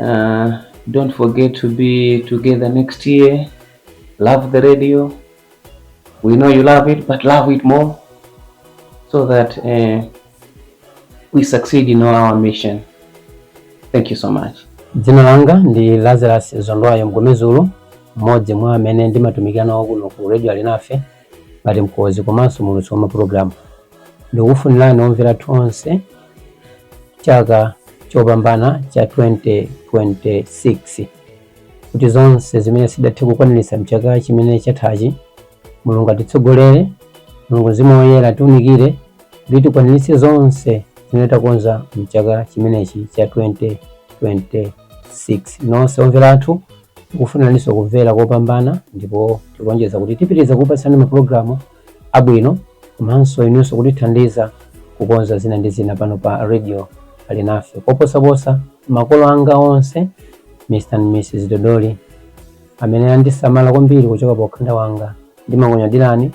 Uh, don't forget to be together next year. Love the radio. We know you love it, but love it more so that uh, we succeed in our mission. Thank you so much. Jina langa ndi Lazarus Zondwayo Mgomezulu, mmodzi mwa amene ndimatumikira nawo kuno ku Radio Alinafe. ngati mkonzi komanso muulutsi wa mapulogalamu ndikufunirani omvera athu onse chaka chopambana cha 2026 kuti zonse zimene sitidathe kukwaniritsa mchaka chimene chathachi mulungu atitsogolere mulungu mzimu woyera atiunikire kuti tikwaniritse zonse zimene takonza mchaka chimenechi cha 2026 nonse omvera athu Tikufuniraninso kumvera kopambana ndipo tikulonjeza kuti tipitiriza kukupatsani mapulogalamu abwino komanso inunso kutithandiza kukonza zina ndi zina pano pa Radio Alinafe. Koposaposa, makolo anga onse, Mr and Mrs Dodoli, amene andisamala kwambiri kuchoka pa ukhanda wanga, ndimakunyadirani.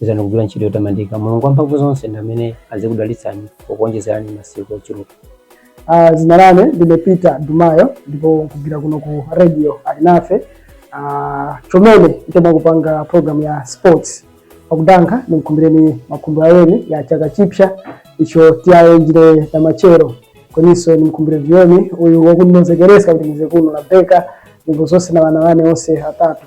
izani kugwira ntchito yotamandika mulungu wamphamvu zonse ndi amene azikudalitsani pokuonjezerani masiku ochuluka Ah, zina lane ndine peter dumayo ndipo nkhugwira kuno ku radio alinafe Ah, chomene nkhutemwa kupanga program ya sports pakudankha nimukhumbireni makhumbo awemi ya chaka chipya icho tiyanjire namachero kweniso nimukhumbire vyoni uyu wakundinozekeresa kuti ndize kuno la beka ndipo zonse na wana wane onse atatu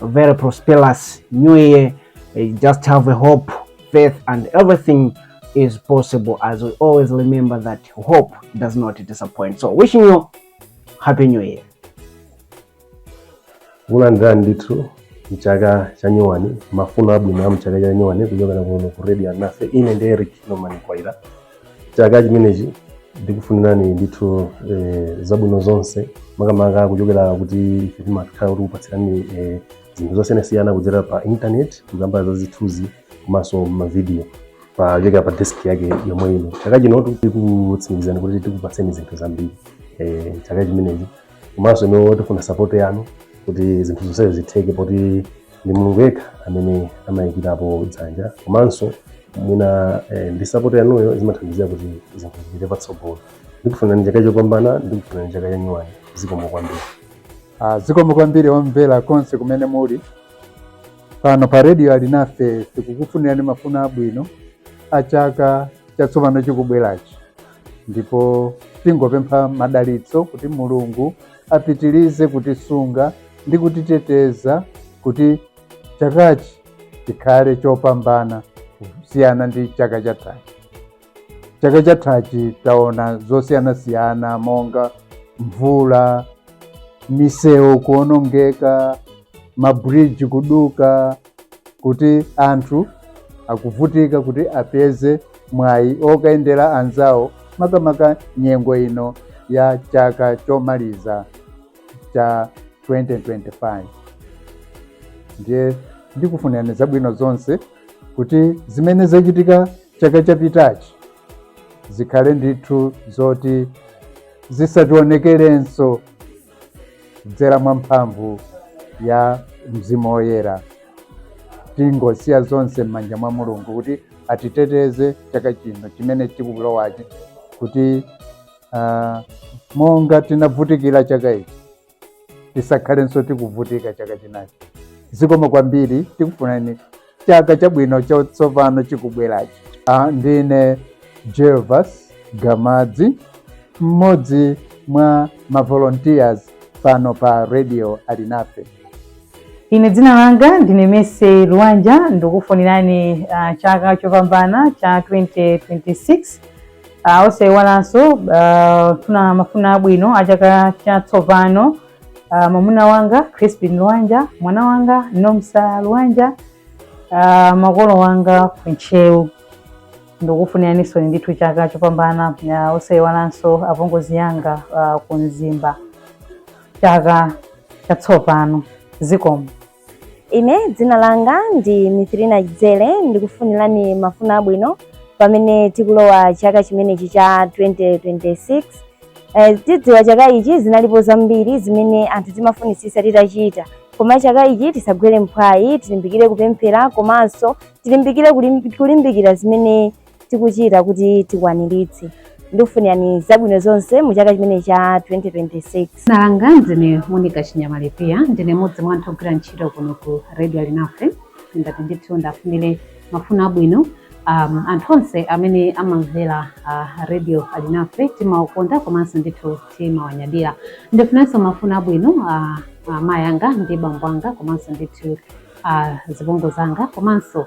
very prosperous new year. Eh, Just have a hope, faith, and everything is possible as we always remember that hope does not disappoint. So, wishing you happy new year. kulandira ndithu mchaka cha nyuwani mafuno abwino a mchaka cha nyuwani kuchokera kuno ku radio alinafe ine ndi eric norman kwaira chaka chimenechi ndikufunirani ndithu eh, zabwino zonse makamaka kuchokera kuti ife timakhala tikukupatsirani eh, zinthu zosiyanasiyana kudzera pa internet kukamba za zithunzi komanso mavidiyo pochokera pa desk yake yomwe ino chaka chino tikutsimikizani kuti tikupatseni zinthu zambiri eh, chaka chimenechi komanso inu tifuna support yanu kuti zinthu zonsezo zitheke poti ndi mulungu yekha amene amayikirapo dzanja komanso mwina eh, ndi sapoti yanuyo zimathandizira kuti zinthu zipite patsogolo ndikufunirani chaka chopambana ndikufunirani chaka cha nyuwani zikomo kwambiri Ah, zikomo kwambiri omvera konse kumene muli pano pa redio alinafe tikukufunirani mafuno abwino a chaka chatsopano chikubwerachi ndipo tingopempha madalitso kuti mulungu apitirize kutisunga ndi kutiteteza kuti chakachi chikhale chopambana kusiyana ndi chaka chathachi. Chaka chathachi taona zosiyanasiyana monga mvula, misewu kuonongeka, mabridge kuduka, kuti anthu akuvutika kuti apeze mwayi okayendera anzawo makamaka nyengo ino ya chaka chomaliza cha 2025 ndiye ndikufunirani zabwino zonse kuti zimene zachitika chaka chapitachi zikhale ndithu zoti zisawonekerenso kudzera mwa mphamvu ya mzimu woyera tingosiya zonse m'manja mwa mulungu kuti atiteteze chaka chino chimene chikulowachi kuti uh, monga tinavutikira chaka ichi tisakhalenso tikuvutika chaka chinachi zikomo kwambiri tikufunani chaka chabwino chatsopano chikubwerachi Ah, ndine gervas gamadzi mmodzi mwa mavolunteers pano pa radio alinafe ine dzina langa ndine mercy luwanja ndikufunirani ah, chaka chopambana cha 2026 uh, osayiwalanso uh, kufuna mafuno abwino a chaka chatsopano uh, mwamuna wanga Crispin Lwanja, mwana wanga Nomsa Lwanja, uh, makolo wanga ku Ntchewu ndikufuniraninso ndithu chaka chopambana uh, osayiwalanso apongozi yanga uh, ku Mzimba chaka chatsopano zikomo. Ine dzina langa ndi Mithrina Dzere ndikufunirani mafuno abwino pamene tikulowa chaka chimenechi cha 2026. Eh, tidziwa chaka ichi zinalipo zambiri zimene anthu timafunitsitsa titachita koma chaka ichi tisagwere mphwayi tilimbikire kupemphera komanso tilimbikire kulim- kulimbikira zimene tikuchita kuti tikwaniritse. Ndikufunirani zabwino zonse mu chaka chimene cha 2026. Dzina langa ndine Monica Chinyamalipia, ndine mmodzi mwa anthu ogwira ntchito kuno ku Radio Alinafe. Ndati ndithu ndiwafunire mafuno abwino um, anthu onse amene amamvera uh, Radio Alinafe, timawakonda komanso ndithu timawanyadira. Ndifunirenso mafuno abwino uh, amayi anga ndi bambo anga komanso ndithu uh, zibongo zanga komanso